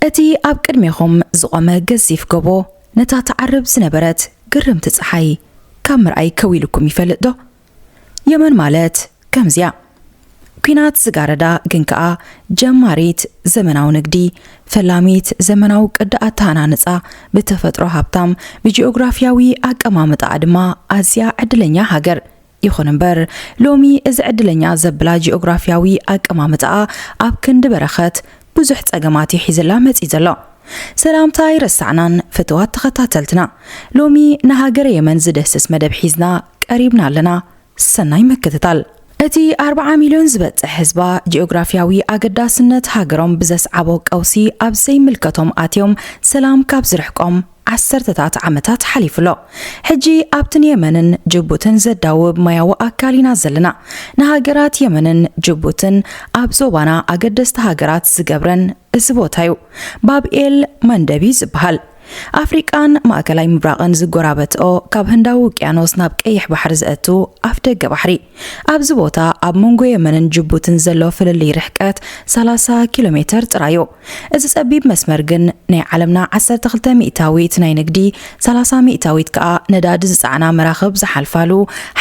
እቲ ኣብ ቅድሜኹም ዝቖመ ገዚፍ ጎቦ ነታ ትዓርብ ዝነበረት ግርምቲ ጸሓይ ካብ ምርኣይ ከው ኢሉኩም ይፈልጥ ዶ? የመን ማለት ከምዚ'ያ። ኲናት ዝጋረዳ ግን ከኣ ጀማሪት ዘመናዊ ንግዲ፣ ፈላሚት ዘመናዊ ቅዲ ኣተሃናንጻ፣ ብተፈጥሮ ሃብታም፣ ብጂኦግራፍያዊ ኣቀማምጣኣ ድማ ኣዝያ ዕድለኛ ሃገር። ይኹን እምበር ሎሚ እዚ ዕድለኛ ዘብላ ጂኦግራፊያዊ ኣቀማምጣኣ ኣብ ክንዲ በረኸት ብዙሕ ጸገማት እዩ ሒዝላ መጺኡ ዘሎ። ሰላምታ ኣይረሳዕናን ፍትዋት ተኸታተልትና ሎሚ ንሃገረ የመን ዝድህስስ መደብ ሒዝና ቀሪብና ኣለና ሰናይ ምክትታል። እቲ ኣርብዓ ሚልዮን ዝበጽሕ ህዝባ ጂኦግራፊያዊ ኣገዳስነት ሃገሮም ብዘስዓቦ ቀውሲ ኣብ ዘይምልከቶም ኣትዮም ሰላም ካብ ዝርሕቆም ዓሰርተታት ዓመታት ሓሊፉ ኣሎ። ሕጂ ኣብቲ ንየመንን ጅቡትን ዘዳውብ ማያዊ ኣካል ኢና ዘለና። ንሃገራት የመንን ጅቡትን ኣብ ዞባና ኣገደስቲ ሃገራት ዝገብረን እዚ ቦታ'ዩ። ባብ ኤል መንደብ'ዩ ዝበሃል። ኣፍሪቃን ማእከላይ ምብራቕን ዝጎራበትኦ ካብ ህንዳዊ ውቅያኖስ ናብ ቀይሕ ባሕሪ ዘእቱ ኣፍደገ ባሕሪ። ኣብዚ ቦታ ኣብ መንጎ የመንን ጅቡትን ዘሎ ፍልልይ ርሕቀት ሰላሳ ኪሎ ሜተር ጥራይ'ዩ። እዚ ጸቢብ መስመር ግን ናይ ዓለምና ዓሰርተ ክልተ ሚእታዊት ናይ ንግዲ፣ ሰላሳ ሚእታዊት ከኣ ነዳዲ ዝጸዕና መራኽብ ዝሓልፋሉ፣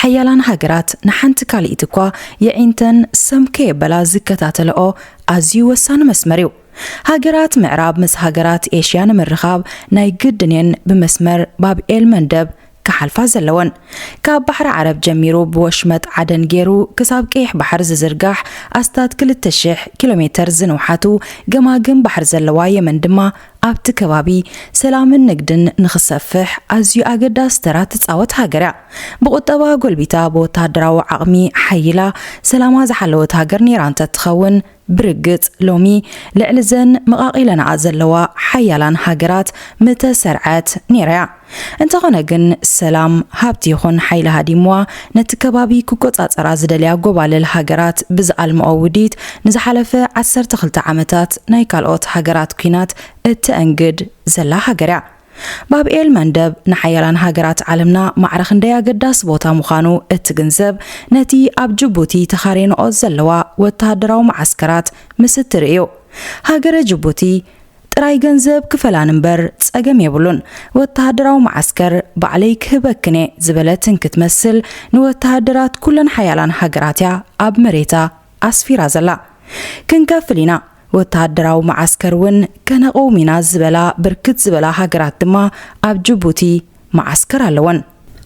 ሓያላን ሃገራት ንሓንቲ ካልኢት'ኳ የዒንተን ሰም ከየበላ ዝከታተለኦ ኣዝዩ ወሳኒ መስመር'ዩ። ሃገራት ምዕራብ ምስ ሃገራት ኤሽያ ንምርኻብ ናይ ግድን'የን ብመስመር ባብ ኤል-መንደብ ክሓልፋ ዘለወን። ካብ ባሕሪ ዓረብ ጀሚሩ ብወሽመጥ ዓደን ገይሩ ክሳብ ቀይሕ ባሕሪ ዝዝርጋሕ ኣስታት ክልተ ሽሕ ኪሎሜተር ዝንውሓቱ ገማግም ባሕሪ ዘለዋ የመን ድማ ኣብቲ ከባቢ ሰላምን ንግድን ንኽሰፍሕ ኣዝዩ ኣገዳሲ ተራ ትጻወት ሃገር'ያ። ብቑጠባ ጎልቢታ ብወተሃደራዊ ዓቕሚ ሓይላ ሰላማ ዝሓለወት ሃገር ነይራ እንተትኸውን፣ ብርግጽ ሎሚ ልዕሊ እዘን መቓቒለናኣ ዘለዋ ሓያላን ሃገራት ምተሰርዐት ኔራ'ያ። እንተኾነ ግን ሰላም፣ ሃብቲ ይኹን ሓይሊ ሃዲምዋ ነቲ ከባቢ ክቆጻጸራ ዝደልያ ጎባልል ሃገራት ብዝኣልምኦ ውዲት ንዝሓለፈ ዓሰርተ ክልተ ዓመታት ናይ ካልኦት ሃገራት ኩናት እተእንግድ ዘላ ሃገር'ያ። ባብኤል መንደብ ንሓያላን ሃገራት ዓለምና ማዕረ ክንደይ ኣገዳሲ ቦታ ምዃኑ እትግንዘብ ነቲ ኣብ ጅቡቲ ተኻሬንኦ ዘለዋ ወተሃደራዊ መዓስከራት ምስ እትርኢ እዩ። ሃገረ ጅቡቲ ጥራይ ገንዘብ ክፈላን እምበር ጸገም የብሉን፣ ወተሃደራዊ መዓስከር ባዕለይ ክህበክን እየ ዝበለት እንክትመስል ንወተሃደራት ኩለን ሓያላን ሃገራት እያ ኣብ መሬታ ኣስፊራ ዘላ። ክንከፍል ኢና! ወተሃደራዊ መዓስከር እውን ከነቕውም ኢና ዝበላ ብርክት ዝበላ ሃገራት ድማ ኣብ ጅቡቲ መዓስከር ኣለወን።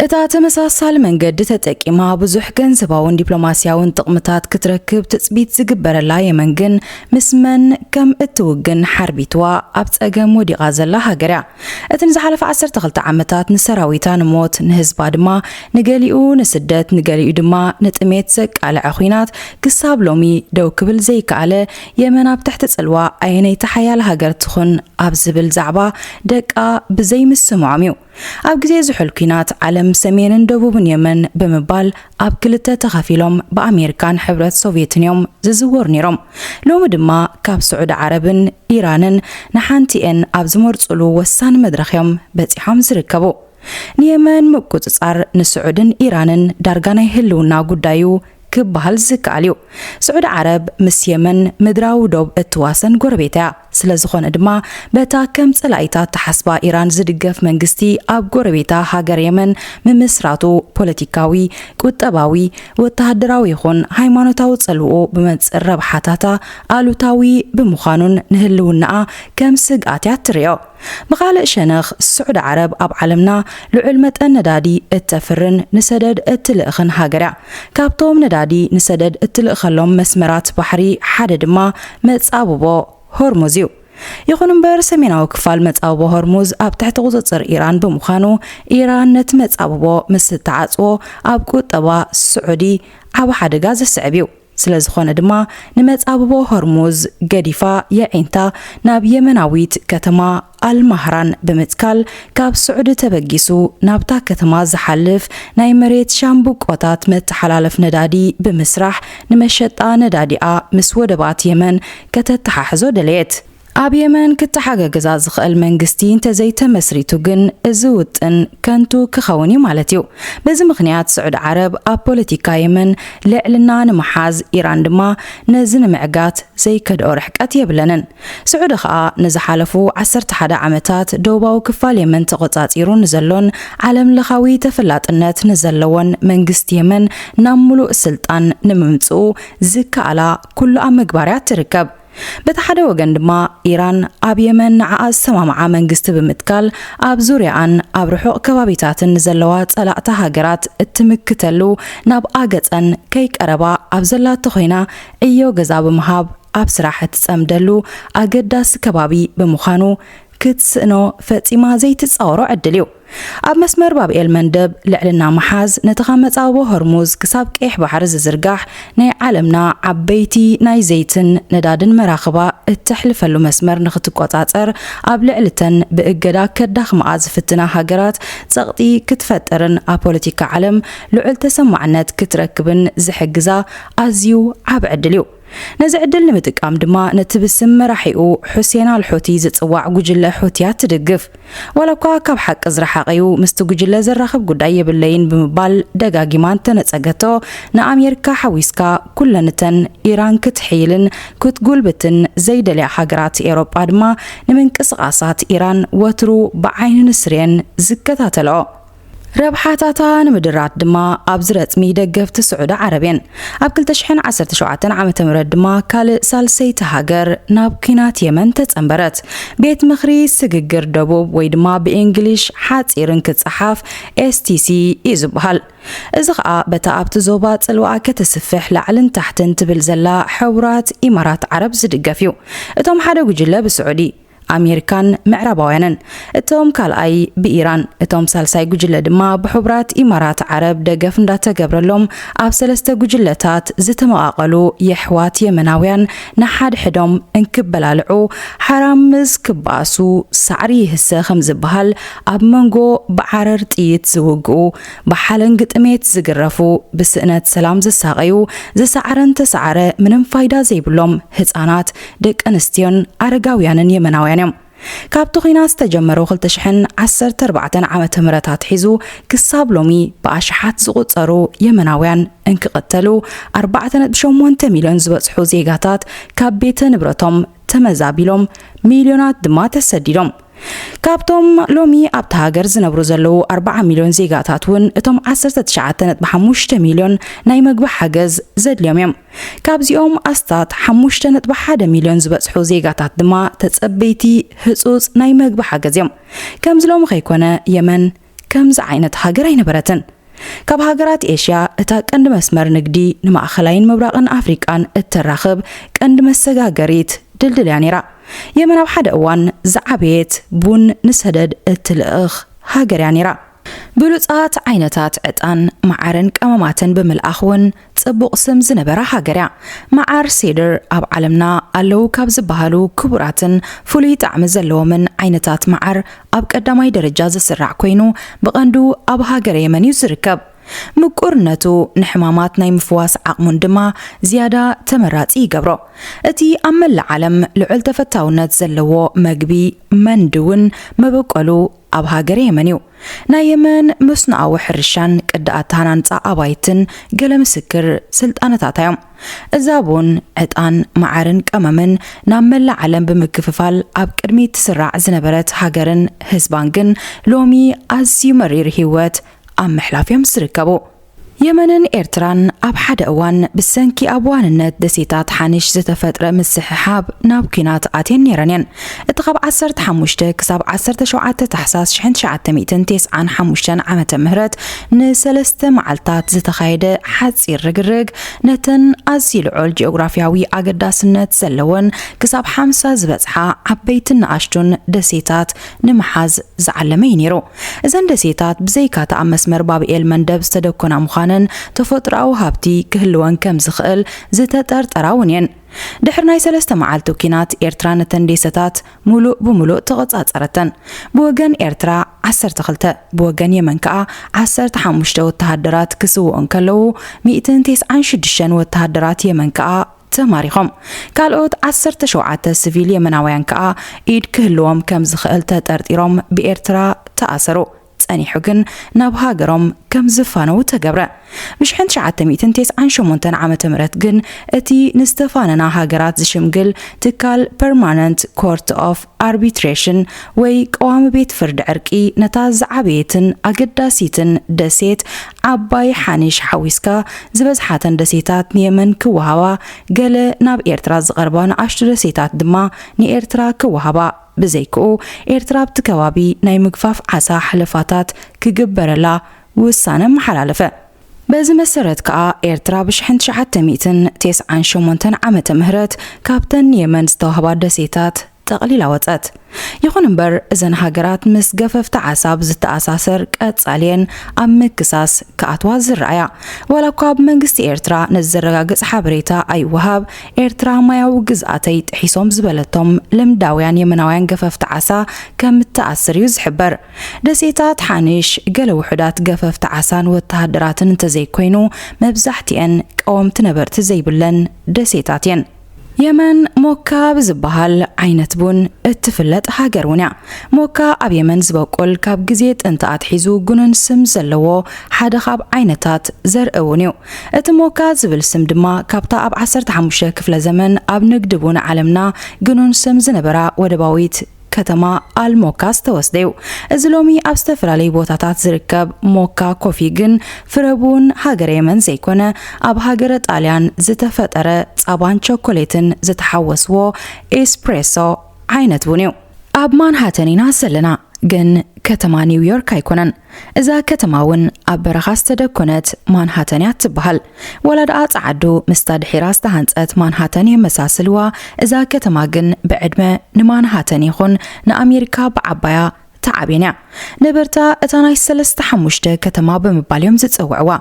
እታ ተመሳሳሊ መንገዲ ተጠቂማ ብዙሕ ገንዘባውን ዲፕሎማስያውን ጥቕምታት ክትረክብ ትጽቢት ዝግበረላ የመን ግን ምስ መን ከም እትውግን ሓርቢትዋ ኣብ ጸገም ወዲቓ ዘላ ሃገር እያ። እቲ ንዝሓለፈ ዓሰርተ ክልተ ዓመታት ንሰራዊታ ንሞት፣ ንህዝባ ድማ ንገሊኡ ንስደት ንገሊኡ ድማ ንጥሜት ዘቃለዐ ኹናት ክሳብ ሎሚ ደው ክብል ዘይከኣለ የመን ኣብ ትሕቲ ጽልዋ ኣየነይቲ ሓያል ሃገር ትኹን ኣብ ዝብል ዛዕባ ደቃ ብዘይምስምዖም እዩ ኣብ ግዜ ዝሑል ኲናት ዓለም ሰሜንን ደቡብን የመን ብምባል ኣብ ክልተ ተኸፊሎም ብኣሜሪካን ሕብረት ሶቭየትን እዮም ዝዝወሩ ነይሮም። ሎሚ ድማ ካብ ስዑዲ ዓረብን ኢራንን ንሓንቲኤን ኣብ ዝመርፁሉ ወሳኒ መድረኽ እዮም በፂሖም ዝርከቡ። ንየመን ምቁፅፃር ንስዑድን ኢራንን ዳርጋ ናይ ህልውና ጉዳይ እዩ ክበሃል ዝከኣል እዩ። ስዑዲ ዓረብ ምስ የመን ምድራዊ ዶብ እትዋሰን ጎረቤታ እያ። ስለዝኾነ ድማ በታ ከም ጸላኢታት ትሓስባ ኢራን ዝድገፍ መንግስቲ ኣብ ጎረቤታ ሃገር የመን ምምስራቱ ፖለቲካዊ፣ ቁጠባዊ፣ ወተሃደራዊ ይኹን ሃይማኖታዊ ጸልውኡ ብመንጽር ረብሓታታ ኣሉታዊ ብምዃኑን ንህልውናኣ ከም ስግኣት'ያ እትርእዮ። ብኻልእ ሸነኽ ስዑዲ ዓረብ ኣብ ዓለምና ልዑል መጠን ነዳዲ እተፍርን ንሰደድ እትልእኽን ሃገር'ያ። ካብቶም ነዳዲ ንሰደድ እትልእኸሎም መስመራት ባሕሪ ሓደ ድማ መጻብቦ ሆርሙዝ'ዩ። ይኹን'ምበር ሰሜናዊ ክፋል መጻብቦ ሆርሙዝ ኣብ ትሕቲ ቁጽጽር ኢራን ብምዃኑ ኢራን ነቲ መጻብቦ ምስ እትዓጽዎ ኣብ ቁጠባ ስዑዲ ዓቢ ሓደጋ ዘስዕብ'ዩ። ስለዝኾነ ድማ ንመጻብቦ ሆርሙዝ ገዲፋ የዒንታ ናብ የመናዊት ከተማ ኣልማህራን ብምትካል ካብ ስዑዲ ተበጊሱ ናብታ ከተማ ዝሓልፍ ናይ መሬት ሻምብቆታት መተሓላለፍ ነዳዲ ብምስራሕ ንመሸጣ ነዳዲኣ ምስ ወደባት የመን ከተተሓሕዞ ደለየት። ኣብ የመን ክተሓገግዛ ዝኸእል መንግስቲ እንተዘይተመስሪቱ ግን እዚ ውጥን ከንቱ ክኸውን እዩ ማለት እዩ። በዚ ምኽንያት ስዑድ ዓረብ ኣብ ፖለቲካ የመን ልዕልና ንምሓዝ ኢራን ድማ ነዚ ንምዕጋት ዘይከድኦ ርሕቀት የብለንን። ስዑዲ ከኣ ንዝሓለፉ ዓሰርተ ሓደ ዓመታት ደቡባዊ ክፋል የመን ተቖጻጺሩ ንዘሎን ዓለምለኻዊ ተፈላጥነት ንዘለዎን መንግስቲ የመን ናብ ምሉእ ስልጣን ንምምጽኡ ዝከኣላ ኩሉ ኣብ ምግባርያ ትርከብ። በቲ ሓደ ወገን ድማ ኢራን ኣብ የመን ንዓኣ ዝሰማምዓ መንግስቲ ብምትካል ኣብ ዙርያኣን ኣብ ርሑቕ ከባቢታትን ንዘለዋ ጸላእታ ሃገራት እትምክተሉ ናብ ኣገጸን ከይቀረባ ኣብ ዘላቶ ኮይና ዕዮ ገዛ ብምሃብ ኣብ ስራሕ እትጸምደሉ ኣገዳሲ ከባቢ ብምዃኑ ክትስእኖ ፈጺማ ዘይትጻወሮ ዕድል እዩ። ኣብ መስመር ባብ ኤል-መንደብ ልዕልና ምሓዝ ነቲ ካብ መጻብቦ ሆርሙዝ ክሳብ ቀይሕ ባሕሪ ዝዝርጋሕ ናይ ዓለምና ዓበይቲ ናይ ዘይትን ነዳድን መራኽባ እተሕልፈሉ መስመር ንኽትቈጻጸር ኣብ ልዕሊ እተን ብእገዳ ከዳኽማኣ ዝፍትና ሃገራት ጸቕጢ ክትፈጥርን ኣብ ፖለቲካ ዓለም ልዑል ተሰማዕነት ክትረክብን ዝሕግዛ ኣዝዩ ዓቢ ዕድል እዩ። ነዚ ዕድል ንምጥቃም ድማ ነቲ ብስም መራሒኡ ሑሴን ኣል ሑቲ ዝጽዋዕ ጉጅለ ሑቲያት ትድግፍ፣ ዋላኳ ካብ ሓቂ ዝረሓቐ'ዩ፣ ምስቲ ጉጅለ ዘራኽብ ጉዳይ የብለይን ብምባል ደጋጊማ እንተነጸገቶ፣ ንኣሜሪካ ሓዊስካ ኩለን እተን ኢራን ክትሕይልን ክትጉልብትን ዘይደልያ ሃገራት ኤውሮጳ ድማ ንምንቅስቓሳት ኢራን ወትሩ ብዓይኒ ንስሪ'የን ዝከታተልኦ። ረብሓታታ ንምድራት ድማ ኣብዚ ረጽሚ ደገፍቲ ስዑዲ ዓረብ እየን። ኣብ 2017 ዓመተ ምህረት ድማ ካልእ ሳልሰይቲ ሃገር ናብ ኲናት የመን ተጸንበረት። ቤት ምኽሪ ስግግር ደቡብ ወይ ድማ ብእንግሊሽ ሓጺር እንክጸሓፍ STC እዩ ዝበሃል። እዚ ኸኣ በታ ኣብቲ ዞባ ጽልዋኣ ከተስፍሕ ላዕልን ታሕትን ትብል ዘላ ሕቡራት ኢማራት ዓረብ ዝድገፍ እዩ። እቶም ሓደ ጉጅለ ብስዑዲ ኣሜሪካን ምዕራባውያንን፣ እቶም ካልኣይ ብኢራን፣ እቶም ሳልሳይ ጉጅለ ድማ ብሑብራት ኢማራት ዓረብ ደገፍ እንዳተገብረሎም ኣብ ሰለስተ ጉጅለታት ዝተመቓቐሉ የሕዋት የመናውያን ንሓድሕዶም እንክበላልዑ ሓራም ምስ ክባኣሱ ሳዕሪ ይህሰ ከምዝበሃል ኣብ መንጎ ብዓረር ጥይት ዝውግኡ ብሓለንጊ ጥሜት ዝግረፉ ብስእነት ሰላም ዝሳቐዩ ዝሰዓረን ተሰዓረ ምንም ፋይዳ ዘይብሎም ህጻናት ደቂ ኣንስትዮን ኣረጋውያንን የመናውያን እዮም። ካብቲ ኲናት ዝተጀመሩ ክልተ ሽሕን ዓሰርተ ኣርባዕተን ዓመተ ምህረት ኣትሒዙ ክሳብ ሎሚ ብኣሽሓት ዝቑጸሩ የመናውያን እንክቕተሉ፣ ኣርባዕተ ነጥቢ ሸሞንተ ሚልዮን ዝበጽሑ ዜጋታት ካብ ቤተ ንብረቶም ተመዛቢሎም፣ ሚልዮናት ድማ ተሰዲዶም። ካብቶም ሎሚ ኣብታ ሃገር ዝነብሩ ዘለዉ ኣርባዓ ሚልዮን ዜጋታት እውን እቶም ዓሰርተ ትሽዓተ ነጥቢ ሓሙሽተ ሚልዮን ናይ መግቢ ሓገዝ ዘድልዮም እዮም። ካብዚኦም ኣስታት ሓሙሽተ ነጥቢ ሓደ ሚልዮን ዝበጽሑ ዜጋታት ድማ ተጸበይቲ ህጹጽ ናይ መግቢ ሓገዝ እዮም። ከምዚ ሎሚ ከይኮነ የመን ከምዚ ዓይነት ሃገር ኣይነበረትን። ካብ ሃገራት ኤሽያ እታ ቀንዲ መስመር ንግዲ ንማእኸላይን ምብራቕን ኣፍሪቃን እተራኽብ ቀንዲ መሰጋገሪት ድልድል እያ ነይራ። የመን ኣብ ሓደ እዋን ዝዓበየት ቡን ንሰደድ እትልእኽ ሃገር እያ ነይራ። ብሉጻት ዓይነታት ዕጣን፣ መዓርን ቀመማትን ብምልኣኽ ውን ጽቡቕ ስም ዝነበራ ሃገር እያ። መዓር ሴድር ኣብ ዓለምና ኣለዉ ካብ ዝበሃሉ ክቡራትን ፍሉይ ጣዕሚ ዘለዎምን ዓይነታት መዓር ኣብ ቀዳማይ ደረጃ ዝስራዕ ኮይኑ ብቐንዱ ኣብ ሃገረ የመን እዩ ዝርከብ። ምቁርነቱ ንሕማማት ናይ ምፍዋስ ዓቕሙን ድማ ዝያዳ ተመራጺ ይገብሮ። እቲ ኣብ መላእ ዓለም ልዑል ተፈታውነት ዘለዎ መግቢ መንድ ውን መበቆሉ ኣብ ሃገረ የመን እዩ። ናይ የመን መስኖኣዊ ሕርሻን ቅዲ ኣተሃናንጻ ኣባይትን ገለ ምስክር ስልጣነታታ እዮም። እዛ ቡን፣ ዕጣን፣ መዓርን ቀመምን ናብ መላእ ዓለም ብምክፍፋል ኣብ ቅድሚት ትስራዕ ዝነበረት ሃገርን ህዝባን ግን ሎሚ ኣዝዩ መሪር ህይወት ኣብ ምሕላፍ እዮም ዝርከቡ። የመንን ኤርትራን ኣብ ሓደ እዋን ብሰንኪ ኣብ ዋንነት ደሴታት ሓኒሽ ዝተፈጥረ ምስሕሓብ ናብ ኲናት ኣትየን ነይረን እየን። እቲ ካብ ዓሰርተ ሓሙሽተ ክሳብ ዓሰርተ ሸውዓተ ታሕሳስ ሽሕን ትሽዓተ ሚእትን ቴስዓን ሓሙሽተን ዓመተ ምህረት ንሰለስተ መዓልታት ዝተኻየደ ሓጺር ርግርግ ነተን ኣዝዩ ልዑል ጂኦግራፍያዊ ኣገዳስነት ዘለወን ክሳብ ሓምሳ ዝበጽሓ ዓበይትን ንኣሽቱን ደሴታት ንምሓዝ ዝዓለመ እዩ ነይሩ። እዘን ደሴታት ብዘይካ'ቲ ኣብ መስመር ባብኤል መንደብ ዝተደኮና ምዃነን፣ ተፈጥሮኣዊ ሃብቲ ክህልወን ከም ዝኽእል ዝተጠርጠራ እውን እየን። ድሕሪ ናይ ሰለስተ መዓልቲ ኲናት፣ ኤርትራ ነተን ዴሰታት ምሉእ ብምሉእ ተቖጻጸረተን። ብወገን ኤርትራ ዓሰርተ ክልተ፣ ብወገን የመን ከኣ ዓሰርተ ሓሙሽተ ወተሃደራት ክስውኡ እንከለዉ፣ ሚእትን ቴስዓን ሽዱሽተን ወተሃደራት የመን ከኣ፣ ተማሪኾም። ካልኦት ዓሰርተ ሸውዓተ ስቪል የመናውያን ከኣ ኢድ ክህልዎም ከም ዝኽእል ተጠርጢሮም ብኤርትራ ተኣሰሩ። ጸኒሑ ግን ናብ ሃገሮም ከም ዝፋነዉ ተገብረ። ብሽሕን ትሽዓተ ሚእትን ቴስዓን ሸሞንተን ዓመተ ምህረት ግን እቲ ንዝተፋነና ሃገራት ዝሽምግል ትካል ፐርማነንት ኮርት ኦፍ ኣርቢትሬሽን ወይ ቀዋሚ ቤት ፍርዲ ዕርቂ ነታ ዝዓበየትን ኣገዳሲትን ደሴት ዓባይ ሓኒሽ ሓዊስካ ዝበዝሓተን ደሴታት ንየመን ክወሃባ ገለ ናብ ኤርትራ ዝቐርባ ንኣሽቱ ደሴታት ድማ ንኤርትራ ክወሃባ ብዘይክኡ ኤርትራ ኣብቲ ከባቢ ናይ ምግፋፍ ዓሳ ሓለፋታት ክግበረላ ውሳነ ኣመሓላለፈ። በዚ መሰረት ከኣ ኤርትራ ብሽሕን ትሽዓተ ሚእትን ቴስዓን ሸሞንተን ዓመተ ምህረት ካብተን ንየመን ዝተዋህባ ደሴታት ጠቕሊላ ወጸት። ይኹን እምበር እዘን ሃገራት ምስ ገፈፍቲ ዓሳ ብዝተኣሳሰር ቀጻሊየን ኣብ ምክሳስ ክኣትዋ ዝረኣያ። ዋላኳ ብመንግስቲ ኤርትራ ነዚ ዘረጋግጽ ሓበሬታ ኣይወሃብ፣ ኤርትራ ማያዊ ግዝኣተይ ጥሒሶም ዝበለቶም ልምዳውያን የመናውያን ገፈፍቲ ዓሳ ከምትኣስር እዩ ዝሕበር። ደሴታት ሓኒሽ፣ ገለ ውሑዳት ገፈፍቲ ዓሳን ወተሃደራትን እንተዘይኮይኑ፣ መብዛሕትኤን ቀወምቲ ነበርቲ ዘይብለን ደሴታት እየን። የመን ሞካ ብዝበሃል ዓይነት ቡን እትፍለጥ ሃገር እውን እያ። ሞካ ኣብ የመን ዝበቁል ካብ ግዜ ጥንቲ ኣትሒዙ ግኑን ስም ዘለዎ ሓደ ካብ ዓይነታት ዘርኢ ቡን እዩ። እቲ ሞካ ዝብል ስም ድማ ካብታ ኣብ ዓሰርተ ሓሙሽተ ክፍለ ዘመን ኣብ ንግዲ ቡን ዓለምና ግኑን ስም ዝነበራ ወደባዊት ከተማ ኣልሞካ ዝተወስደ'ዩ። እዚ ሎሚ ኣብ ዝተፈላለዩ ቦታታት ዝርከብ ሞካ ኮፊ ግን ፍረቡን ሃገረ የመን ዘይኮነ ኣብ ሃገረ ጣልያን ዝተፈጠረ ጻባን ቸኮሌትን ዝተሓወስዎ ኤስፕሬሶ ዓይነት ቡን'ዩ። ኣብ ማንሃተን ኢና ዘለና ግን ከተማ ኒውዮርክ ኣይኮነን። እዛ ከተማ ውን ኣብ በረኻ ዝተደኮነት ማንሃተን እያ እትበሃል። ዋላ ደኣ ጸዓዱ ምስታ ድሒራ ዝተሃንጸት ማንሃተን የመሳስልዋ፣ እዛ ከተማ ግን ብዕድመ ንማንሃተን ይኹን ንኣሜሪካ ብዓባያ ተዓብየን እያ። ነበርታ እታ ናይ ሰለስተ ሓሙሽተ ከተማ ብምባል እዮም ዝጽውዕዋ።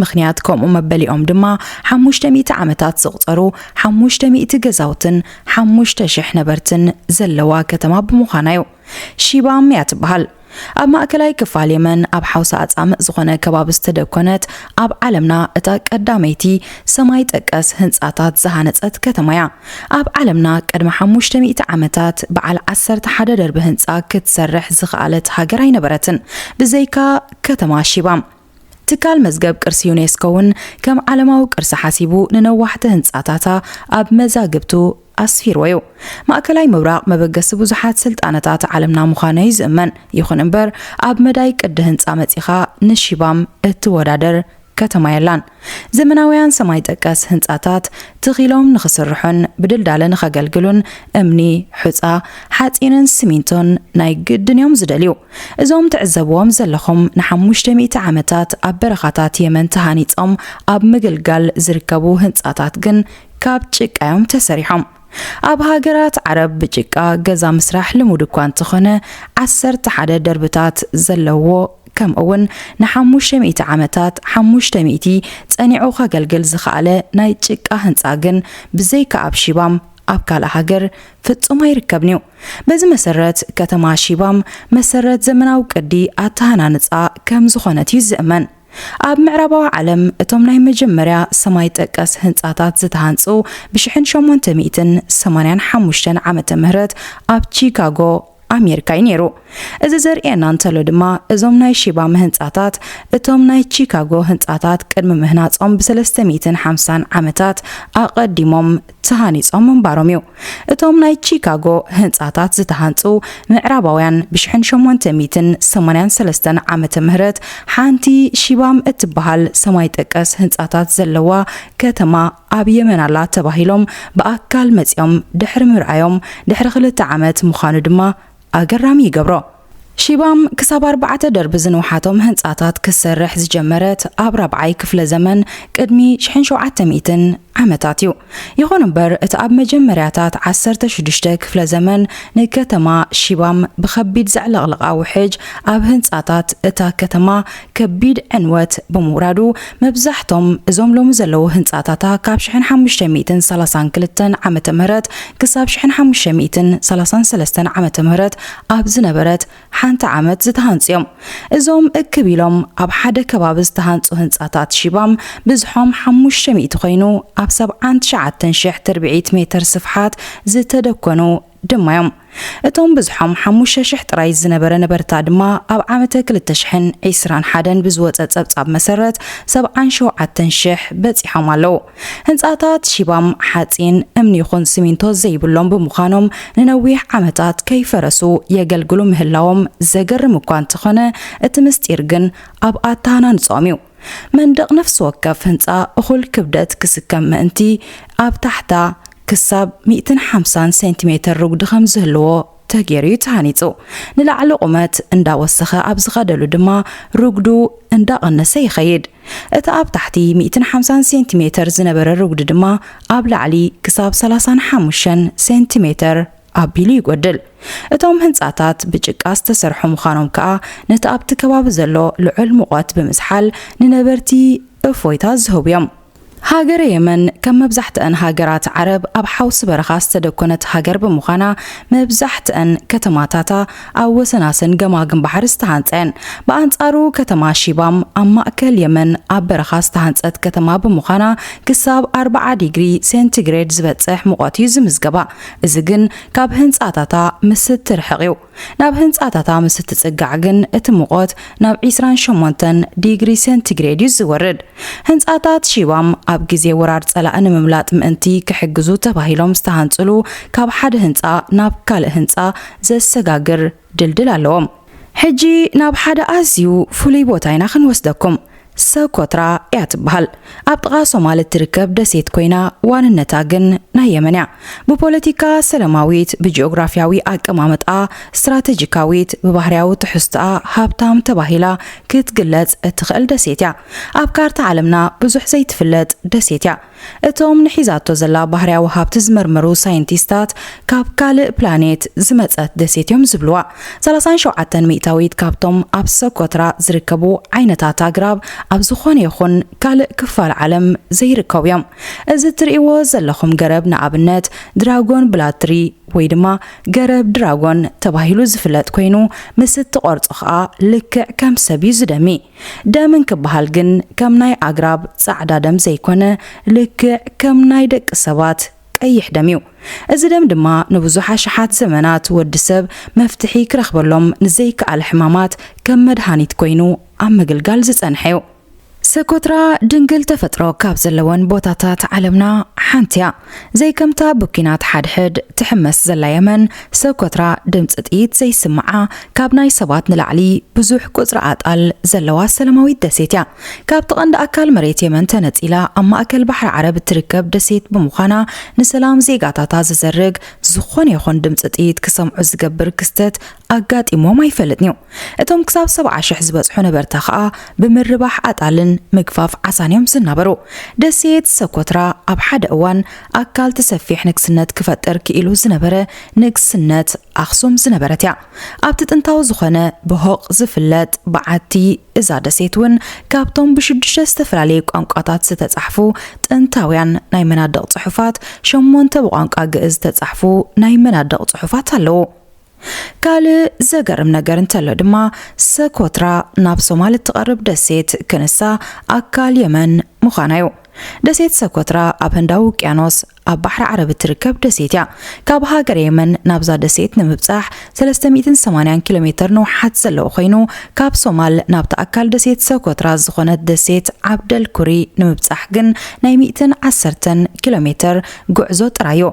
ምኽንያት ከምኡ መበሊኦም ድማ ሓሙሽተ ሚእቲ ዓመታት ዘቑጸሩ ሓሙሽተ ሚእቲ ገዛውትን ሓሙሽተ ሽሕ ነበርትን ዘለዋ ከተማ ብምዃና'ዩ። ሺባም እያ ትበሃል። ኣብ ማእከላይ ክፋል የመን ኣብ ሓውሲ ኣጻምእ ዝኾነ ከባቢ ዝተደኮነት ኣብ ዓለምና እታ ቀዳመይቲ ሰማይ ጠቀስ ህንጻታት ዝሃነጸት ከተማ'ያ። ኣብ ዓለምና ቅድሚ ሓሙሽተ ሚእቲ ዓመታት በዓል ዓሰርተ ሓደ ደርቢ ህንጻ ክትሰርሕ ዝኸኣለት ሃገር ኣይነበረትን ብዘይካ ከተማ ሺባም። ትካል መዝገብ ቅርሲ ዩኔስኮ እውን ከም ዓለማዊ ቅርሲ ሓሲቡ ንነዋሕቲ ህንጻታታ ኣብ መዛግብቱ ኣስፊርዎ እዩ። ማእከላይ ምብራቕ መበገሲ ብዙሓት ስልጣነታት ዓለምና ምዃኑ እዩ ዝእመን። ይኹን እምበር ኣብ መዳይ ቅዲ ህንጻ መጺኻ ንሺባም እትወዳደር ከተማ የላን። ዘመናውያን ሰማይ ጠቀስ ህንጻታት ትኺሎም ንኽስርሑን ብድልዳለ ንኸገልግሉን እምኒ፣ ሑጻ፣ ሓጺንን ስሚንቶን ናይ ግድን እዮም ዝደልዩ። እዞም ትዕዘብዎም ዘለኹም ንሓሙሽተ ሚእቲ ዓመታት ኣብ በረኻታት የመን ተሃኒጾም ኣብ ምግልጋል ዝርከቡ ህንጻታት ግን ካብ ጭቃ'ዮም ተሰሪሖም። ኣብ ሃገራት ዓረብ ብጭቃ ገዛ ምስራሕ ልሙድ እኳ እንተኾነ፣ ዓሰርተ ሓደ ደርብታት ዘለዎ ከምኡ'ውን ንሓሙሽተ ሚእቲ ዓመታት ሓሙሽተ ሚእቲ ጸኒዑ ከገልግል ዝኸኣለ ናይ ጭቃ ህንጻ ግን ብዘይካ ኣብ ሺባም ኣብ ካልእ ሃገር ፍጹም ኣይርከብን'ዩ። በዚ መሰረት ከተማ ሺባም መሰረት ዘመናዊ ቅዲ ኣተሃናንጻ ከም ዝኾነት እዩ ዝእመን። ኣብ ምዕራባዊ ዓለም እቶም ናይ መጀመርያ ሰማይ ጠቀስ ህንጻታት ዝተሃንጹ ብሽሕን ሸሞንተ ሚእትን ሰማንያን ሓሙሽተን ዓመተ ምህረት ኣብ ቺካጎ ኣሜሪካ እዩ ነይሩ። እዚ ዘርእየና እንተሎ ድማ እዞም ናይ ሺባም ህንጻታት እቶም ናይ ቺካጎ ህንጻታት ቅድሚ ምህናጾም ብሰለስተ ሚእትን ሓምሳን ዓመታት ኣቐዲሞም ተሃኒጾም ምንባሮም እዩ። እቶም ናይ ቺካጎ ህንጻታት ዝተሃንጹ ምዕራባውያን ብሽሕን ሸሞንተ ሚእትን ሰማንያን ሰለስተን ዓመተ ምህረት ሓንቲ ሺባም እትበሃል ሰማይ ጠቀስ ህንጻታት ዘለዋ ከተማ ኣብ የመን ኣላ ተባሂሎም ብኣካል መጺኦም ድሕሪ ምርኣዮም ድሕሪ ክልተ ዓመት ምዃኑ ድማ ኣገራሚ ይገብሮ። ሺባም ክሳብ ኣርባዕተ ደርቢ ዝንውሓቶም ህንጻታት ክትሰርሕ ዝጀመረት ኣብ ራብዓይ ክፍለ ዘመን ቅድሚ ሽሕን ሸውዓተ ሚእትን ዓመታት እዩ። ይኹን እምበር እቲ ኣብ መጀመርያታት ዓሰርተ ሽዱሽተ ክፍለ ዘመን ንከተማ ሺባም ብኸቢድ ዘዕለቕለቓ ውሕጅ ኣብ ህንጻታት እታ ከተማ ከቢድ ዕንወት ብምውራዱ መብዛሕቶም እዞም ሎሚ ዘለዉ ህንጻታታ ካብ ሽሕን ሓሙሽተ ሚእትን ሰላሳን ክልተን ዓመተ ምህረት ክሳብ ሽሕን ሓሙሽተ ሚእትን ሰላሳን ሰለስተን ዓመተ ምህረት ኣብ ዝነበረት ሓንቲ ዓመት ዝተሃንጹ እዮም። እዞም እክብ ኢሎም ኣብ ሓደ ከባቢ ዝተሃንጹ ህንጻታት ሺባም ብዝሖም ሓሙሽተ ሚእቲ ኮይኑ ኣብ ሰብዓን ትሽዓተን ሽሕ ትርብዒት ሜተር ስፍሓት ዝተደኮኑ ድማ እዮም። እቶም ብዝሖም ሓሙሽተ ሽሕ ጥራይ ዝነበረ ነበርታ ድማ ኣብ ዓመተ ክልተ ሽሕን ዕስራን ሓደን ብዝወጸ ጸብጻብ መሰረት ሰብዓን ሸውዓተን ሽሕ በጺሖም ኣለዉ። ህንጻታት ሺባም ሓጺን፣ እምኒ ይኹን ስሚንቶ ዘይብሎም ብምዃኖም ንነዊሕ ዓመታት ከይፈረሱ የገልግሉ ምህላዎም ዘገርም እኳ እንተኾነ እቲ ምስጢር ግን ኣብ ኣተሃናንጽኦም እዩ። መንደቕ ነፍሲ ወከፍ ህንጻ እኹል ክብደት ክስከም ምእንቲ ኣብ ታሕታ ክሳብ ሚእትን ሓምሳን ሴንቲሜተር ርጉዲ ከም ዝህልዎ ተገይሩ እዩ ተሃኒፁ። ንላዕሊ ቁመት እንዳወሰኸ ኣብ ዝኸደሉ ድማ ርጉዱ እንዳቐነሰ ይኸይድ። እቲ ኣብ ታሕቲ ሚእትን ሓምሳን ሴንቲሜተር ዝነበረ ርጉዲ ድማ ኣብ ላዕሊ ክሳብ ሰላሳን ሓሙሽተን ሴንቲሜተር ኣቢሉ ይጎድል። እቶም ህንፃታት ብጭቃ ዝተሰርሑ ምዃኖም ከዓ ነቲ ኣብቲ ከባቢ ዘሎ ልዑል ሙቐት ብምዝሓል ንነበርቲ እፎይታ ዝህቡ እዮም። ሃገረ የመን ከም መብዛሕትኣን ሃገራት ዓረብ ኣብ ሓውሲ በረኻ ዝተደኮነት ሃገር ብምዃና መብዛሕትኣን ከተማታታ ኣብ ወሰናስን ገማግም ባሕሪ ዝተሃንጻ እየን። ብኣንጻሩ ከተማ ሺባም ኣብ ማእከል የመን ኣብ በረኻ ዝተሃንጸት ከተማ ብምዃና ክሳብ ኣርብዓ ዲግሪ ሴንቲግሬድ ዝበጽሕ ሙቐት እዩ ዝምዝገባ። እዚ ግን ካብ ህንጻታታ ምስ እትርሕቕ እዩ። ናብ ህንጻታታ ምስ እትጽጋዕ ግን እቲ ሙቐት ናብ ዒስራን ሸሞንተን ዲግሪ ሰንቲግሬድ እዩ ዝወርድ። ህንጻታት ሺባም ኣብ ግዜ ወራር ጸላኢ ንምምላጥ ምእንቲ ክሕግዙ ተባሂሎም ዝተሃንጽሉ ካብ ሓደ ህንጻ ናብ ካልእ ህንጻ ዘሰጋግር ድልድል ኣለዎም። ሕጂ ናብ ሓደ ኣዝዩ ፍሉይ ቦታ ኢና ክንወስደኩም። ሰኮትራ እያ ትበሃል። ኣብ ጥቓ ሶማል እትርከብ ደሴት ኮይና ዋንነታ ግን ናይ የመን እያ። ብፖለቲካ ሰለማዊት፣ ብጂኦግራፍያዊ ኣቀማምጣኣ ስትራተጂካዊት፣ ብባህርያዊ ትሕዝቶኣ ሃብታም ተባሂላ ክትግለጽ እትኽእል ደሴት እያ። ኣብ ካርታ ዓለምና ብዙሕ ዘይትፍለጥ ደሴት እያ። እቶም ንሒዛቶ ዘላ ባህርያዊ ሃብቲ ዝምርምሩ ሳይንቲስታት፣ ካብ ካልእ ፕላኔት ዝመጸት ደሴት'ዮም ዝብሉዋ። ሰላሳን ሸውዓተን ሚእታዊት ካብቶም ኣብ ሰኮትራ ዝርከቡ ዓይነታት ኣግራብ ኣብ ዝኾነ ይኹን ካልእ ክፋል ዓለም ዘይርከቡ'ዮም። እዚ እትርእይዎ ዘለኹም ገረብ ንኣብነት ድራጎን ብላድ ትሪ ወይ ድማ ገረብ ድራጎን ተባሂሉ ዝፍለጥ ኮይኑ ምስ እትቖርጾ ከኣ ልክዕ ከም ሰብ'ዩ ዝደሚ። ደም እንክበሃል ግን ከም ናይ ኣግራብ ጻዕዳ ደም ዘይኮነ ልክዕ ከም ናይ ደቂ ሰባት ቀይሕ ደም እዩ። እዚ ደም ድማ ንብዙሕ ኣሽሓት ዘመናት ወዲ ሰብ መፍትሒ ክረኽበሎም ንዘይከኣለ ሕማማት ከም መድሃኒት ኮይኑ ኣብ ምግልጋል ዝጸንሐ እዩ። ሰኮትራ ድንግል ተፈጥሮ ካብ ዘለወን ቦታታት ዓለምና ሓንቲ እያ። ዘይከምታ ብኲናት ሓድሕድ ትሕመስ ዘላ የመን፣ ሰኮትራ ድምጺ ጥይት ዘይስምዓ፣ ካብ ናይ ሰባት ንላዕሊ ብዙሕ ቁጽሪ ኣጣል ዘለዋ ሰላማዊት ደሴት እያ። ካብቲ ቀንዲ ኣካል መሬት የመን ተነጺላ ኣብ ማእከል ባሕሪ ዓረብ እትርከብ ደሴት ብምዃና፣ ንሰላም ዜጋታታ ዝዘርግ ዝኾነ ይኹን ድምጺ ጥይት ክሰምዑ ዝገብር ክስተት ኣጋጢሞም ኣይፈልጥን'ዩ። እቶም ክሳብ ሰብዓ ሽሕ ዝበጽሑ ነበርታ ከኣ ብምርባሕ ኣጣልን ምግፋፍ ዓሳን እዮም ዝናበሩ። ደሴት ሰኮትራ ኣብ ሓደ እዋን ኣካልቲ ሰፊሕ ንግስነት ክፈጥር ክኢሉ ዝነበረ ንግስነት ኣክሱም ዝነበረት እያ። ኣብቲ ጥንታዊ ዝኾነ በሆቕ ዝፍለጥ በዓቲ እዛ ደሴት እውን ካብቶም ብሽዱሽተ ዝተፈላለዩ ቋንቋታት ዝተጻሕፉ ጥንታውያን ናይ መናድቕ ጽሑፋት ሸሞንተ ብቋንቋ ግእዝ ዝተጻሕፉ ናይ መናድቕ ጽሑፋት ኣለዉ። ካልእ ዘገርም ነገር እንተሎ ድማ ሰኮትራ ናብ ሶማል እትቐርብ ደሴት ክንሳ ኣካል የመን ምዃና'ዩ። ደሴት ሰኮትራ ኣብ ህንዳዊ ውቅያኖስ ኣብ ባሕሪ ዓረብ እትርከብ ደሴት እያ። ካብ ሃገረ የመን ናብዛ ደሴት ንምብጻሕ ሰለስተ ሚእትን ሰማንያን ኪሎሜተር ንውሓት ዘለዎ ኮይኑ፣ ካብ ሶማል ናብታ ኣካል ደሴት ሰኮትራ ዝኾነት ደሴት ዓብደል ኩሪ ንምብጻሕ ግን ናይ ሚእትን ዓሰርተን ኪሎሜተር ጉዕዞ ጥራይ'ዩ።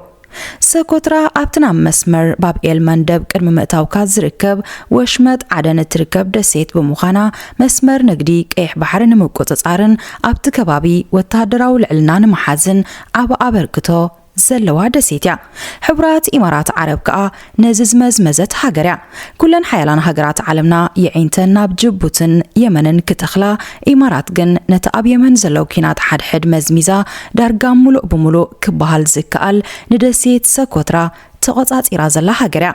ሰኮትራ ኣብቲ ናብ መስመር ባብ ኤል መንደብ ቅድሚ ምእታውካ ዝርከብ ወሽመጥ ዓደን እትርከብ ደሴት ብምዃና፣ መስመር ንግዲ ቀይሕ ባሕሪ ንምቁጽጻርን ኣብቲ ከባቢ ወተሃደራዊ ልዕልና ንምሓዝን ዓቢ ኣበርክቶ ዘለዋ ደሴት እያ። ሕቡራት ኢማራት ዓረብ ከኣ ነዚ ዝመዝመዘት ሃገር እያ ኩለን ሓያላን ሃገራት ዓለምና የዒንተን ናብ ጅቡትን የመንን ክተኽላ ኢማራት ግን ነቲ ኣብ የመን ዘሎ ኲናት ሓድሕድ መዝሚዛ ዳርጋ ሙሉእ ብሙሉእ ክበሃል ዝከኣል ንደሴት ሰኮትራ ተቖጻጺራ ዘላ ሃገር እያ።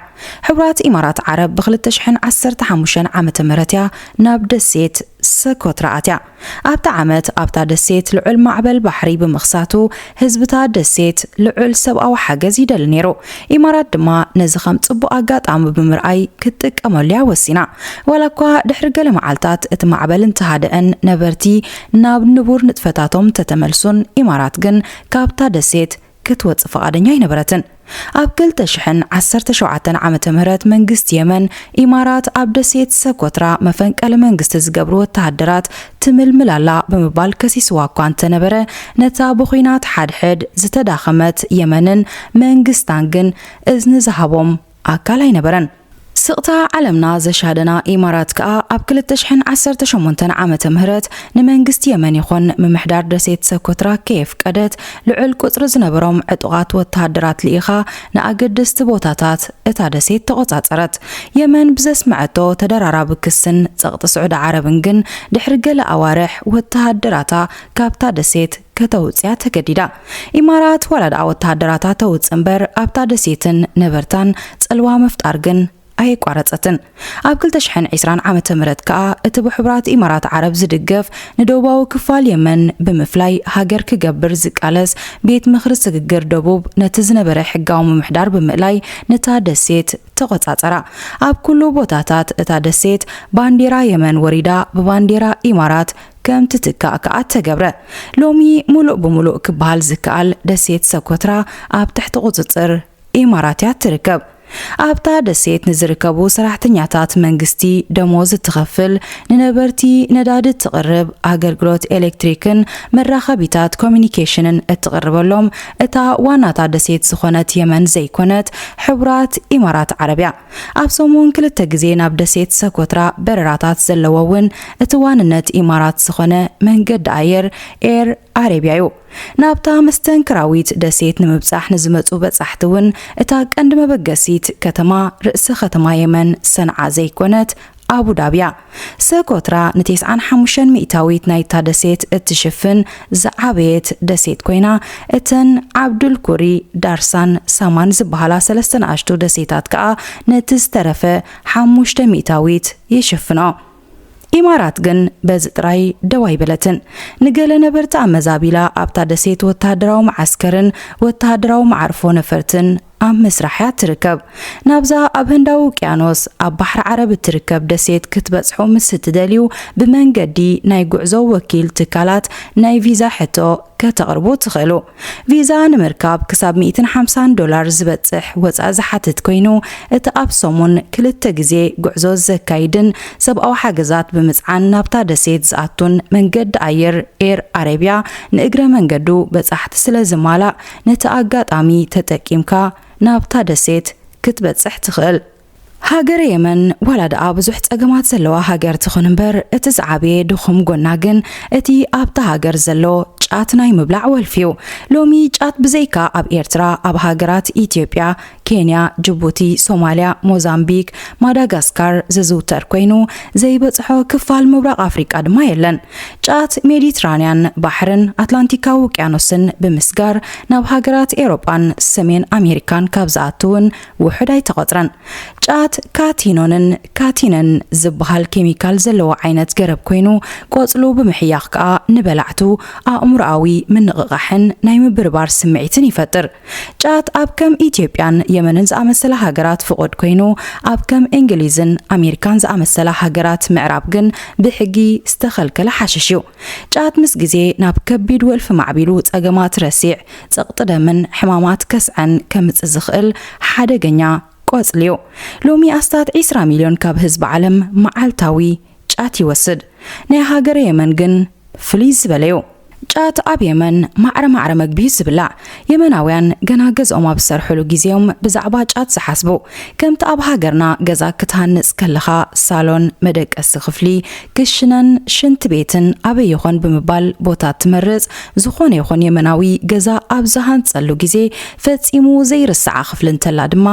ሕቡራት ኢማራት ዓረብ ብ ክልተ ሽሕን ዓሰርተ ሓሙሽተን ዓመተ ምህረት እያ ናብ ደሴት ሰኮትራ ኣትያ። ኣብቲ ዓመት ኣብታ ደሴት ልዑል ማዕበል ባሕሪ ብምኽሳቱ ህዝቢ'ታ ደሴት ልዑል ሰብኣዊ ሓገዝ ይደሊ ነይሩ። ኢማራት ድማ ነዚ ከም ጽቡቕ ኣጋጣሚ ብምርኣይ ክትጥቀመሉ'ያ ወሲና። ዋላ'ኳ ድሕሪ ገለ መዓልታት እቲ ማዕበል እንተሃደኣን ነበርቲ ናብ ንቡር ንጥፈታቶም እንተተመልሱን ኢማራት ግን ካብታ ደሴት ክትወጽእ ፍቓደኛ ኣይነበረትን። ኣብ ክልተ ሽሕን ዓሰርተ ሸውዓተን ዓመተ ምህረት መንግስቲ የመን፣ ኢማራት ኣብ ደሴት ሰኮትራ መፈንቀሊ መንግስቲ ዝገብሩ ወተሃደራት ትምልምል ኣላ ብምባል ከሲስዋ እኳ እንተነበረ፣ ነታ ብዂናት ሓድሕድ ዝተዳኸመት የመንን መንግስታን ግን እዝኒ ዝሃቦም ኣካል ኣይነበረን። ስቕታ ዓለምና ዘሻደና ኢማራት ከኣ ኣብ ክልተ ሽሕን ዓሰርተ ሸሞንተን ዓመተ ምህረት ንመንግስቲ የመን ይኹን ምምሕዳር ደሴት ሰኮትራ ከየፍቀደት ልዑል ቁጽሪ ዝነበሮም ዕጡቓት ወተሃደራት ልኢኻ ንኣገደስቲ ቦታታት እታ ደሴት ተቖጻጸረት። የመን ብዘስመዐቶ ተደራራቢ ክስን ጸቕጢ ስዑዲ ዓረብን ግን ድሕሪ ገለ ኣዋርሕ ወተሃደራታ ካብታ ደሴት ከተውጽያ ተገዲዳ። ኢማራት ዋላ ድኣ ወተሃደራታ ተውጽእ እምበር ኣብታ ደሴትን ነበርታን ጽልዋ ምፍጣር ግን ኣየቋረጸትን። ኣብ ክልተ ሽሕን ዕስራን ዓመተ ምህረት ከኣ እቲ ብሕቡራት ኢማራት ዓረብ ዝድገፍ ንደቡባዊ ክፋል የመን ብምፍላይ ሃገር ክገብር ዝቃለስ ቤት ምኽሪ ስግግር ደቡብ ነቲ ዝነበረ ሕጋዊ ምምሕዳር ብምእላይ ነታ ደሴት ተቖጻጸራ። ኣብ ኩሉ ቦታታት እታ ደሴት ባንዴራ የመን ወሪዳ ብባንዴራ ኢማራት ከም ትትካእ ከኣ ተገብረ። ሎሚ ሙሉእ ብሙሉእ ክበሃል ዝከኣል ደሴት ሰኮትራ ኣብ ትሕቲ ቁጽጽር ኢማራት እያ እትርከብ። ኣብታ ደሴት ንዝርከቡ ሰራሕተኛታት መንግስቲ ደሞዝ እትኸፍል፣ ንነበርቲ ነዳዲ እትቕርብ፣ ኣገልግሎት ኤሌክትሪክን መራኸቢታት ኮሚኒኬሽንን እትቕርበሎም እታ ዋናታ ደሴት ዝኾነት የመን ዘይኮነት ሕቡራት ኢማራት ዓረብ እያ። ኣብ ሰሙን ክልተ ግዜ ናብ ደሴት ሰኮትራ በረራታት ዘለዎ እውን እቲ ዋንነት ኢማራት ዝኾነ መንገዲ ኣየር ኤር ኣረብያ እዩ። ናብታ መስተንክራዊት ደሴት ንምብጻሕ ንዝመጹ በጻሕቲ እውን እታ ቀንዲ መበገሲት ከተማ ርእሰ ከተማ የመን ሰንዓ ዘይኮነት ኣቡዳብያ፣ ሰኮትራ ንቴስዓን ሓሙሽተን ሚእታዊት ናይታ ደሴት እትሽፍን ዝዓበየት ደሴት ኮይና፣ እተን ዓብዱል ኩሪ፣ ዳርሳን ሳማን ዝበሃላ ሰለስተ ንኣሽቱ ደሴታት ከኣ ነቲ ዝተረፈ ሓሙሽተ ሚእታዊት ይሽፍኖ። ኢማራት ግን በዚ ጥራይ ደው ኣይበለትን። ንገለ ነበርቲ ኣመዛቢላ ኣብታ ደሴት ወተሃደራዊ መዓስከርን ወተሃደራዊ መዓርፎ ነፈርትን ኣብ ምስራሕ እያ እትርከብ። ናብዛ ኣብ ህንዳዊ ውቅያኖስ ኣብ ባሕሪ ዓረብ እትርከብ ደሴት ክትበጽሑ ምስ እትደልዩ፣ ብመንገዲ ናይ ጉዕዞ ወኪል ትካላት ናይ ቪዛ ሕቶ ከተቕርቡ ትኽእሉ። ቪዛ ንምርካብ ክሳብ ሚእትን ሓምሳን ዶላር ዝበጽሕ ወጻኢ ዝሓትት ኰይኑ፣ እቲ ኣብ ሰሙን ክልተ ግዜ ጉዕዞ ዘካይድን ሰብኣዊ ሓገዛት ብምጽዓን ናብታ ደሴት ዝኣቱን መንገዲ ኣየር ኤር ኣረብያ ንእግረ መንገዱ በጻሕቲ ስለ ዝማላእ ነቲ ኣጋጣሚ ተጠቂምካ ናብታ ደሴት ክትበጽሕ ትኽእል። ሃገረ የመን ዋላ ድኣ ብዙሕ ጸገማት ዘለዋ ሃገር ትኹን እምበር እቲ ዝዓበየ ድኹም ጎና ግን እቲ ኣብታ ሃገር ዘሎ ጫት ናይ ምብላዕ ወልፊ'ዩ። ሎሚ ጫት ብዘይካ ኣብ ኤርትራ ኣብ ሃገራት ኢትዮጵያ፣ ኬንያ፣ ጅቡቲ፣ ሶማልያ፣ ሞዛምቢክ፣ ማዳጋስካር ዝዝውተር ኮይኑ፣ ዘይበጽሖ ክፋል ምብራቕ ኣፍሪቃ ድማ የለን። ጫት ሜዲትራንያን ባሕርን ኣትላንቲካዊ ውቅያኖስን ብምስጋር ናብ ሃገራት ኤሮጳን ሰሜን ኣሜሪካን ካብ ዝኣቱ እውን ውሑድ ኣይተቖጽረን። ጫት ካቲኖንን ካቲነን ዝበሃል ኬሚካል ዘለዎ ዓይነት ገረብ ኮይኑ፣ ቆጽሉ ብምሕያኽ ከኣ ንበላዕቱ ኣእምሮኣዊ ምንቕቓሕን ናይ ምብርባር ስምዒትን ይፈጥር። ጫት ኣብ ከም ኢትዮጵያን የመንን ዝኣመሰላ ሃገራት ፍቑድ ኮይኑ፣ ኣብ ከም እንግሊዝን ኣሜሪካን ዝኣመሰላ ሃገራት ምዕራብ ግን ብሕጊ ዝተኸልከለ ሓሽሽ እዩ። ጫት ምስ ግዜ ናብ ከቢድ ወልፊ ማዕቢሉ ጸገማት ረሲዕ፣ ጸቕጢ ደምን ሕማማት ከስዐን ከምጽእ ዝኽእል ሓደገኛ ቆጽሊ እዩ። ሎሚ ኣስታት ዒስራ ሚልዮን ካብ ህዝቢ ዓለም መዓልታዊ ጫት ይወስድ። ናይ ሃገረ የመን ግን ፍልይ ዝበለ'ዩ። ጫት ኣብ የመን ማዕረ ማዕረ መግቢ'ዩ ዝብላዕ። የመናውያን ገና ገዝኦም ኣብ ዝሰርሕሉ ግዜ'ዮም ብዛዕባ ጫት ዝሓስቡ። ከምቲ ኣብ ሃገርና ገዛ ክትሃንጽ ከለኻ ሳሎን፣ መደቀሲ ክፍሊ፣ ክሽነን ሽንት ቤትን ኣበይ ይኾን ብምባል ቦታ ትመርጽ፣ ዝኾነ ይኹን የመናዊ ገዛ ኣብ ዝሃንጸሉ ግዜ ፈጺሙ ዘይርስዓ ክፍሊ እንተላ ድማ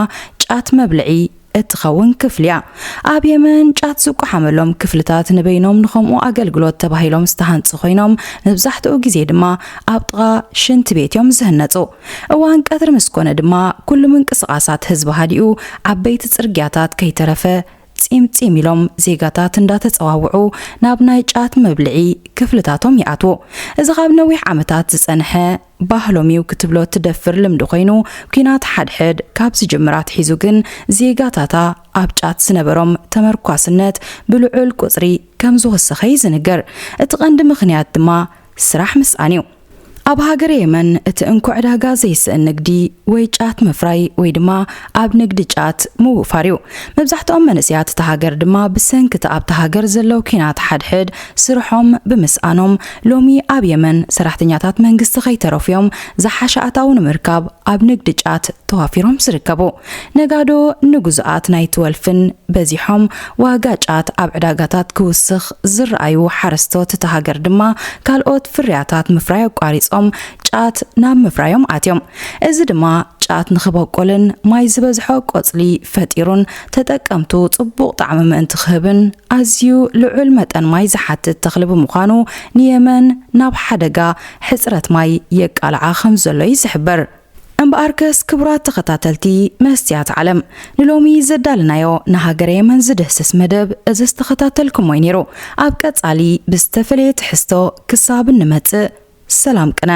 ጫት መብልዒ፣ እትኸውን ክፍሊ እያ። ኣብ የመን ጫት ዝቋሓመሎም ክፍልታት ንበይኖም ንኸምኡ ኣገልግሎት ተባሂሎም ዝተሃንጹ ኾይኖም መብዛሕትኡ ግዜ ድማ ኣብ ጥቓ ሽንቲ ቤት እዮም ዝህነጹ። እዋን ቀትሪ ምስ ኮነ ድማ ኩሉ ምንቅስቓሳት ህዝቢ ሃዲኡ ዓበይቲ ጽርግያታት ከይተረፈ ጺም ጺም ኢሎም ዜጋታት እንዳተጸዋውዑ ናብ ናይ ጫት መብልዒ ክፍልታቶም ይኣትዉ። እዚ ካብ ነዊሕ ዓመታት ዝጸንሐ ባህሎም እዩ ክትብሎ እትደፍር ልምዲ ኮይኑ ኩናት ሓድሕድ ካብ ዝጅምር ኣትሒዙ ግን ዜጋታታ ኣብ ጫት ዝነበሮም ተመርኳስነት ብልዑል ቁጽሪ ከም ዝወሰኸ እዩ ዝንገር። እቲ ቀንዲ ምኽንያት ድማ ስራሕ ምስኣን እዩ። ኣብ ሃገረ የመን እቲ እንኮ ዕዳጋ ዘይስእን ንግዲ ወይ ጫት ምፍራይ ወይ ድማ ኣብ ንግዲ ጫት ምውፋር እዩ። መብዛሕትኦም መንእሰያት እታ ሃገር ድማ ብሰንኪ እቲ ኣብታ ሃገር ዘሎ ኩናት ሓድሕድ ስርሖም ብምስኣኖም ሎሚ ኣብ የመን ሰራሕተኛታት መንግስቲ ከይተረፉ'ዮም ዝሓሸ ኣታዊ ንምርካብ ኣብ ንግዲ ጫት ተዋፊሮም ዝርከቡ። ነጋዶ ንግዙኣት ናይቲ ወልፍን በዚሖም ዋጋ ጫት ኣብ ዕዳጋታት ክውስኽ ዝረኣዩ ሓረስቶት እታ ሃገር ድማ ካልኦት ፍርያታት ምፍራይ ኣቋሪጾም ጫት ናብ ምፍራዮም ኣትዮም። እዚ ድማ ጫት ንኽበቁልን ማይ ዝበዝሖ ቆጽሊ ፈጢሩን ተጠቀምቱ ጽቡቕ ጣዕሚ ምእንቲ ክህብን ኣዝዩ ልዑል መጠን ማይ ዝሓትት ተኽሊ ብምዃኑ ንየመን ናብ ሓደጋ ሕጽረት ማይ የቃልዓ ከምዘሎ እዩ ዝሕበር። እምበኣርከስ ክቡራት ተኸታተልቲ መስትያት ዓለም ንሎሚ ዘዳለናዮ ንሃገረ የመን ዝድህስስ መደብ እዚ ዝተኸታተልኩሞ እዩ ነይሩ። ኣብ ቀጻሊ ብዝተፈለየ ትሕዝቶ ክሳብ እንመጽእ ሰላም ቅነ።